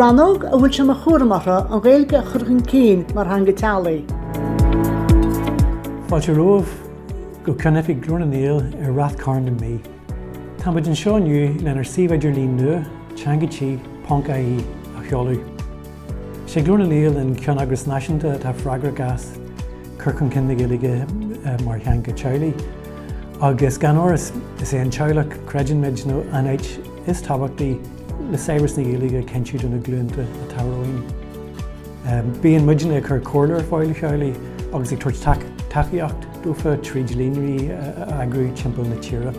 Rannóg a bhfuil sé mar chúram orthu an Ghaeilge a chur chun cinn mar theanga teaghlaigh. Fáilte romhaibh go Ceannoifig Ghlór na nGael i Rath Cairn na Mí. Táimid anseo inniu lenár suíomh idirlín nua, TeangaTí, ponc-IE, a sheoladh. Is é Glór na nGael an ceanneagras náisiúnta atá freagrach as cur chun cinn na Gaeilge mar theanga teaghlaigh agus gan amhras is é an teaghlach, creideann muid, nó an áit Is tábhachtaí le saibhreas na Gaeilge a chinntiú do na glúnta atá romhainn. Bíonn muidne ag cur comhairle ar fáil do theaghlaigh agus ag tabhairt tacaíocht dófa tríd líonraí a eagrú timpeall na tíre.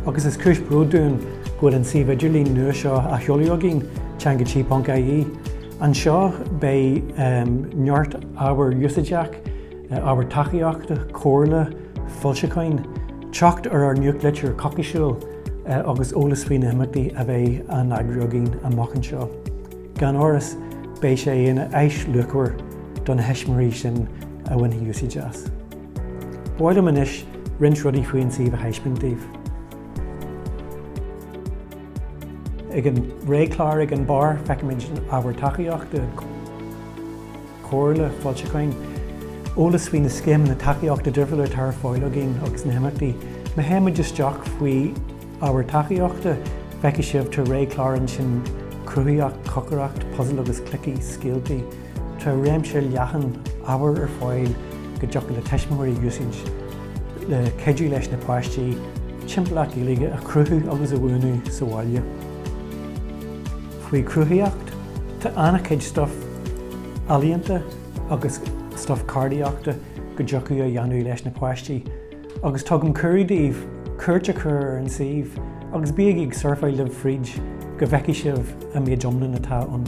Agus is cúis bróid dúinn go bhfuil an suíomh idirlín nua seo á sheoladh againn, TeangaTí.ie. Anseo beidh neart ábhar úsáideach, Ábhar tacaíochta, comhairle, foilseacháin, teacht ar ár nuachtlitir choicísiúil agus eolas faoi na himeachtaí a bheidh á n-eagrú againn amach anseo. Gan amhras, beidh sé ina áis luachmhar do na heisimirigh sin a bhainfidh úsáid as. Ba mhaith liom anois roinnt rudaí faoin suíomh a thaispeáint daoibh. Ag an réchlár ag an barr, feicimid ábhar tacaíochta, Comhairle, foilseacháin, eolas faoi na scéimeanna tacaíochta difriúla atá ar fáil againn agus na himeachtaí. Má théann muid isteach faoi ábhar tacaíochta, feicfidh sibh tá réchlár ansin cruthaíocht, cócaireacht, puzail agus cluichí, scéaltaí. Tá réimse leathan ábhar ar fáil go dtiocfadh le tuismitheoirí a úsáid le cuidiú leis na páistí timpeallacht Ghaeilge a chruthú agus a bhuanú sa bhaile. faoi chruthaíocht, tá an-chuid stuif ealaíonta agus stuif ceardaíochta go dtiocfadh a dhéanamh leis na páistí agus tugaim cuireadh daoibh cuairt a chur ar an suíomh agus bígí ag surfáil libh fríd go bhfeicfidh sibh an méid iomlán atá ann.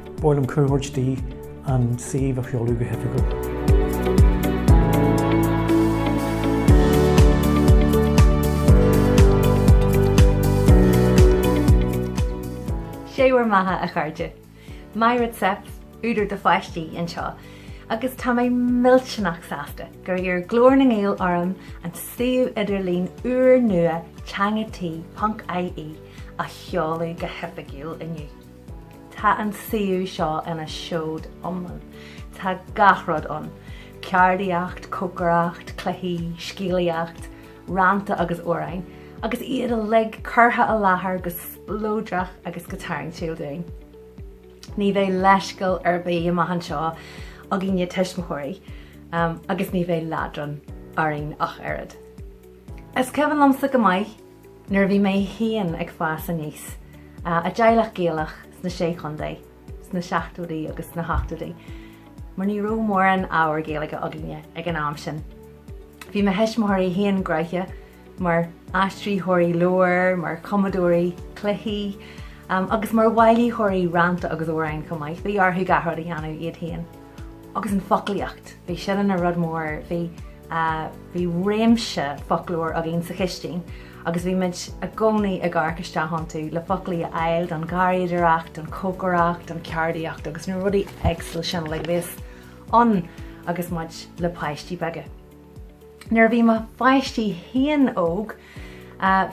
Ba mhaith liom cuireadh a thabhairt di an suíomh a sheoladh go hoifigiúil. Sé bhur mbeatha, a chairde. Myra Zepf, údar do pháistí, anseo, agus tá mé millteanach sásta gur iarr Glór na nGael orm an suíomh idirlín úr nua, TeangaTí, ponc, IE, a sheoladh go hoifigiúil inniu. Tá an suíomh seo ina seod iomlán. Tá gach rud ann, ceardaíocht, cócaireacht, cluichí, scéalaíocht, rannta agus amhráin, agus iad uilig curtha i láthair go spleodrach agus go tarraingtiúil dúinn. Ní bheidh leithscéal ar bith amach anseo againne tuismitheoirí, agus ní bheidh leadrán orainn ach oiread. Is cuimhin liomsa go maith, Nuair a bhí mé féin ag fás aníos, i dteaghlach Gaelach sna Sé Chontae, sna seachtóidí agus sna hochtóidí, mar ní raibh mórán ábhar Gaeilge againne ag an am sin, bhí mo thuismitheoirí féin graithe mar aistritheoirí leabhar, mar chumadóirí cluichí agus mar bhailítheoirí rannta agus amhrán chomh maith. Bhí orthu gach rud a dhéanamh iad féin. agus an foclaíocht, bhí sin ina rud mór, bhí, bhí réimse foclóir againn sa chistín agus bhí muid i gcónaí ag amharc isteach iontu le foclaí a fháil don gharraíodóireacht, don chócaireacht, don cheardaíocht agus na rudaí éagsúla sin uilig a bhíos ann agus muid le páistí beaga. Nuair a bhí mo pháistí féin óg,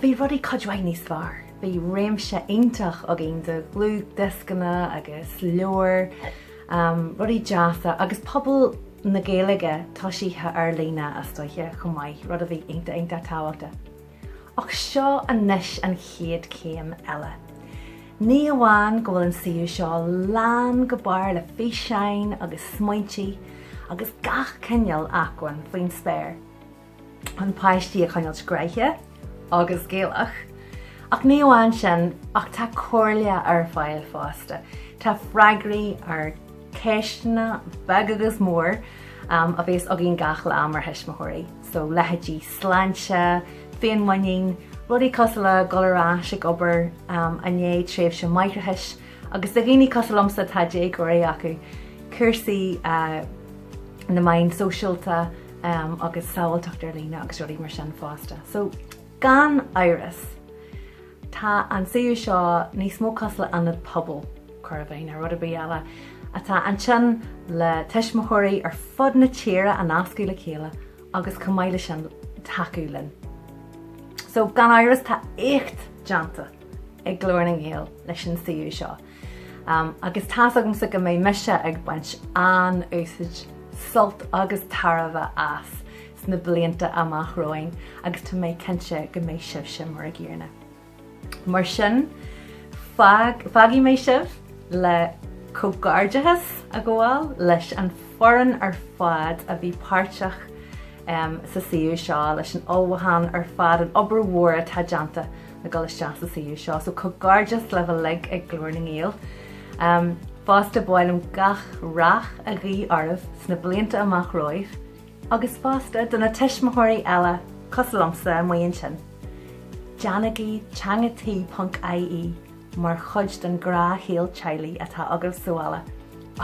bhí rudaí cuid mhaith níos fearr. Bhí réimse iontach againn de dhlúthdhioscanna agus leabhair, rudaí deasa agus pobal na Gaeilge toisithe ar líne, astoiche, chomh maith, rud a bhí iontach tábhachtach. Ach seo anois an chéad chéim eile. Ní amháin go bhfuil an suíomh seo lán go barr le físeáin agus smaointí agus gach cineál acmhainn faoin spéir chun páistí a choinneáilt graithe agus Gaelach, ach ní amháin sin ach tá comhairle ar fáil fosta, tá freagraí ar ceisteanna beag agus mór a bhíos againn gach lá mar thuismitheoirí. so leithéidí sláinte, féinmhuinín, rudaí cosúil le ghoil ar ais ag obair i ndiaidh tréimhse máithreachais, agus do dhaoine cosúil liomsa atá déagóirí acu, cúrsaí na meán sóisialta agus sábháilteacht ar líne agus rudaí mar sin fosta. So gan amhras. Tá an suíomh seo níos mó cosúil le ionad pobail, chóir a bheith, ná rud ar bith eile, atá ansin le tuismitheoirí ar fud na tíre a nascadh le chéile agus chomh maith le sin, tacú linn. So, gan amhras, tá éacht déanta ag Glór na nGael leis an suíomh seo agus tá's agamsa go mbeidh mise ag baint an-úsaid, sult agus tairbhe as. sna blianta amach romhainn agus tá mé cinnte go mbeidh sibhse mar an gcéanna. Mar sin, fágfaidh mé sibh le comhghairdeachas a ghabháil leis an fhoireann ar fad a bhí páirteach sa suíomh seo, leis an ullmhúchán ar fad, an obair mhór atá déanta le ghoil isteach sa suíomh seo, so comhghairdeas libh uilig ag Glór na nGael. Fosta, ba mhaith liom gach rath a ghuí oraibh sna blianta amach romhaibh, agus fosta do na tuismitheoirí eile cosúil liomsa amuigh ansin, déanaigí Teanga Tí ponc IE mar chuid den ghnáthshaol teaghlaigh atá agaibh sa bhaile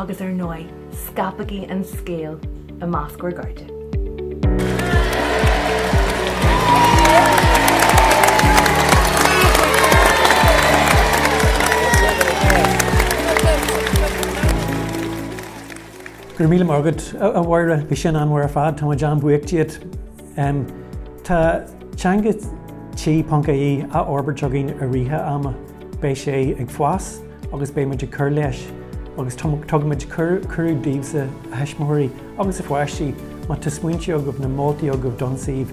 agus ar ndóigh scaipigí an scéal i measc bhur gcairde. Go raibh míle maith agat, a Mháire. Bhí sin an-mhaith ar fad. Tá muid an-bhuíoch díot. Tá Teanga Tí ponc IE á fhorbairt againn i rith an ama. Beidh sé ag fás agus beidh muid ag cur leis agus tugaimid cuireadh daoibhse, a thuismitheoirí agus a pháistí, má tá smaointe agaibh nó moltaí agaibh don suíomh,